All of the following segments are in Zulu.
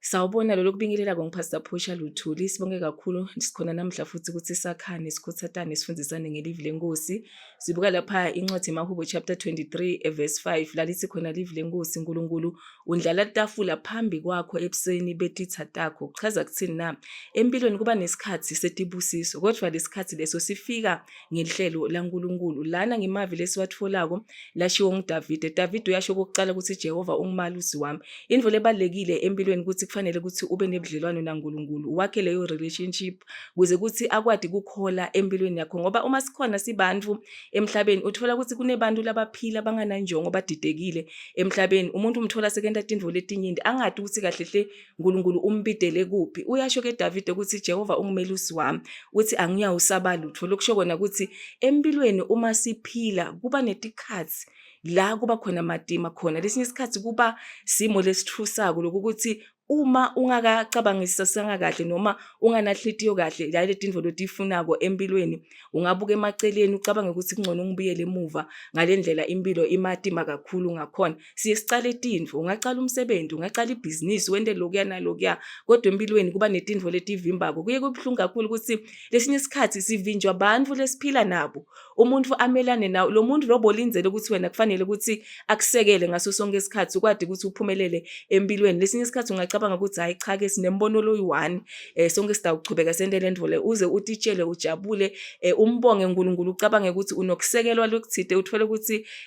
Sawubona lolo kubingelela kong Pastor Phusha Luthuli sibonge kakhulu sikhona namhla futhi ukuthi sakhane sikhuthathane sifundisane ngelivi lenkosi sibuka lapha incwadi yemahubo chapter 23 eh, verse 5 lalithi khona livi lenkosi uNkulunkulu undlala tafula phambi kwakho ebusweni betitha takho kuchaza kuthini na empilweni kuba nesikhathi setibusiso kodwa lesikhathi leso sifika ngehlelo laNkulunkulu. Lana ngemavi lesiwatfolako lashiwo nguDavide. Davide uyasho okokucala ukuthi Jehova ungumalusi wami. Intfo lebalulekile empilweni ukuthi kufanele ukuthi ube nebudlelwano naNkulunkulu, wakhe leyo relationship kuze kuthi akwati kukhola empilweni yakho ngoba uma sikhona sibantfu emhlabeni uthola ukuthi kunebantu labaphila bangananjongo badidekile emhlabeni. Umuntu umthola sekenta tintfo letinyenti angati ukuthi kahle hle uNkulunkulu umbidele kuphi uyasho ke Davide ukuthi Jehova ungumelusi wami uthi angiyawusaba lutho lokusho kona ukuthi empilweni uma siphila kuba netikhathi la kuba khona matima khona lesinye isikhathi kuba simo lesithusako lokuthi uma ungakacabangisisa sangakahle noma unganahliziyo kahle la letindvo lotifunako empilweni ungabuka emaceleni ucabange ukuthi kungcono ngibuyele emuva ngalendlela impilo imatima kakhulu ngakhona siye sicale tintfo ungacala umsebenzi ungacala ibhizinisi wente lokuya nalokuya kodwa empilweni kuba netintfo letivimbako kuye kubuhlungu kakhulu ukuthi lesinye isikhathi sivinjwa bantfu lesiphila nabo umuntu amelane nawo lo muntu lobo lindele ukuthi wena kufanele ukuthi akusekele ngaso sonke isikhathi ukwadi ukuthi uphumelele empilweni lesinye isikhathi ungacabanga ukuthi hayi cha ke sinembono loyi-one um eh, sonke sidawuchubeka sente le ndvole uze utitshele ujabule um umbonge unkulunkulu ucabange ukuthi unokusekelwa lokuthide uthole ukuthi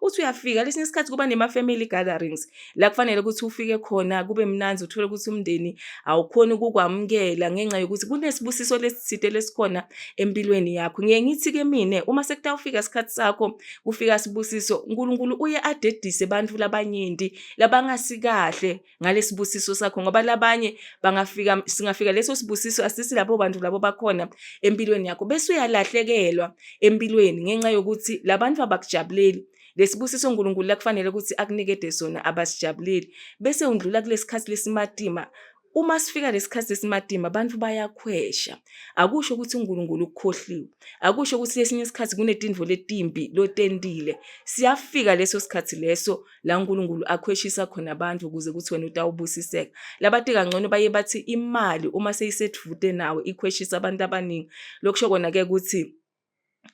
uthi uyafika lesinye isikhathi kuba nema-family gatherings la kufanele ukuthi ufike khona kube mnanzi uthole ukuthi umndeni awukhoni ukukwamukela ngenxa yokuthi kunesibusiso lesithide lesikhona empilweni yakho ngiye ngithi-ke mina uma sekutawufika isikhathi sakho kufika sibusiso unkulunkulu uye adedise abantu labanyenti labangasikahle ngalesibusiso sakho ngoba labanye bangafika singafika leso sibusiso asisi labo bantu labo bakhona empilweni yakho bese uyalahlekelwa empilweni ngenxa yokuthi labantu abakujabuleli lesibusiso uNkulunkulu lakufanele ukuthi akunikede sona abasijabuleli bese undlula kulesikhathi lesimatima uma sifika lesikhathi sesimatima abantu bayakhwesha akusho ukuthi uNkulunkulu ukukhohliwe akusho ukuthi lesinye isikhathi kunetindvo letimbi lotendile siyafika leso sikhathi leso la uNkulunkulu akhweshisa khona abantu ukuze kuthi wena utawubusiseka labati kangcono baye bathi imali uma seyisedvude nawe ikhweshisa abantu abaningi lokusho kona ke ukuthi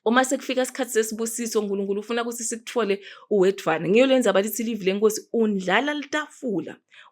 uma sekufika isikhathi sesibusiso uNkulunkulu ufuna ukuthi sikuthole uwedvana ngiyo lenza abalithi livi lenkosi undlala litafula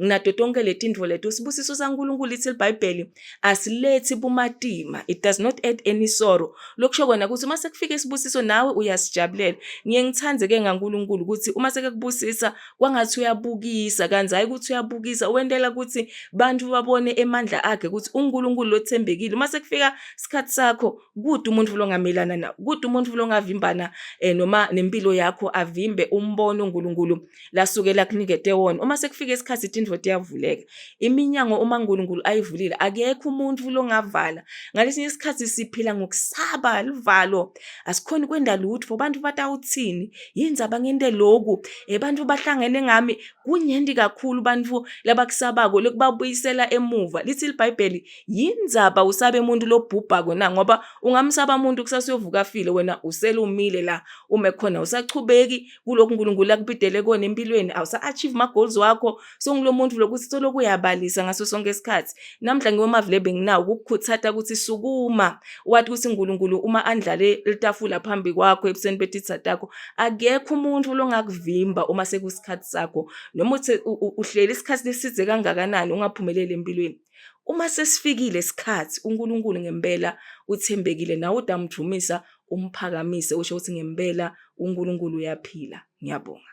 nginato tonke letintfo leto sibusiso sankulunkulu ithi libhayibheli asilethi bumatima it does not add any sorrow lokusho kona ukuthi uma sekufika isibusiso nawe uyasijabulela ngiye ngithande ke ngankulunkulu ukuthi uma sekekubusisa kwangathi uyabukisa kanti hayi ukuthi uyabukisa wentela ukuthi bantu babone emandla akhe ukuthi unkulunkulu lothembekile uma sekufika isikhathi sakho kude umuntu longamelana na kude umuntu longavimbana um eh, noma nempilo yakho avimbe umbono unkulunkulu lasuke lakunikete wona uma sekufika isikhathi ithi indvoda iyavuleka iminyango uma unkulunkulu ayivulile akekho umuntu longavala ngalesinye isikhathi siphila ngokusaba luvalo asikhoni kwenda lutho abantu batawuthini yini zaba ngente loku abantu eh, bahlangene ngami kunyendi kakhulu bantu labakusabako lokubabuyisela emuva lithi libhayibheli yini zaba usabe umuntu lobhubhako na ngoba ungamsaba umuntu kusasuyovuka afile wena uselumile la uma ekhona usachubeki kulokhu uNkulunkulu akubidele kona empilweni awusa-achieve ama-goals wakho sengulo muntu lokuthi solokhu uyabalisa ngaso sonke isikhathi namhla ngiwomavile benginawo ukukukhuthata ukuthi sukuma wathi ukuthi uNkulunkulu uma andlale litafula phambi kwakho ebusweni betitha takho akekho umuntu longakuvimba uma sekusikhathi sakho noma uthi uhleli isikhathi lesize kangakanani ungaphumeleli empilweni uma sesifikile isikhathi uNkulunkulu ngempela uthembekile nawe udamdumisa umphakamise usho ukuthi ngempela uNkulunkulu uyaphila ngiyabonga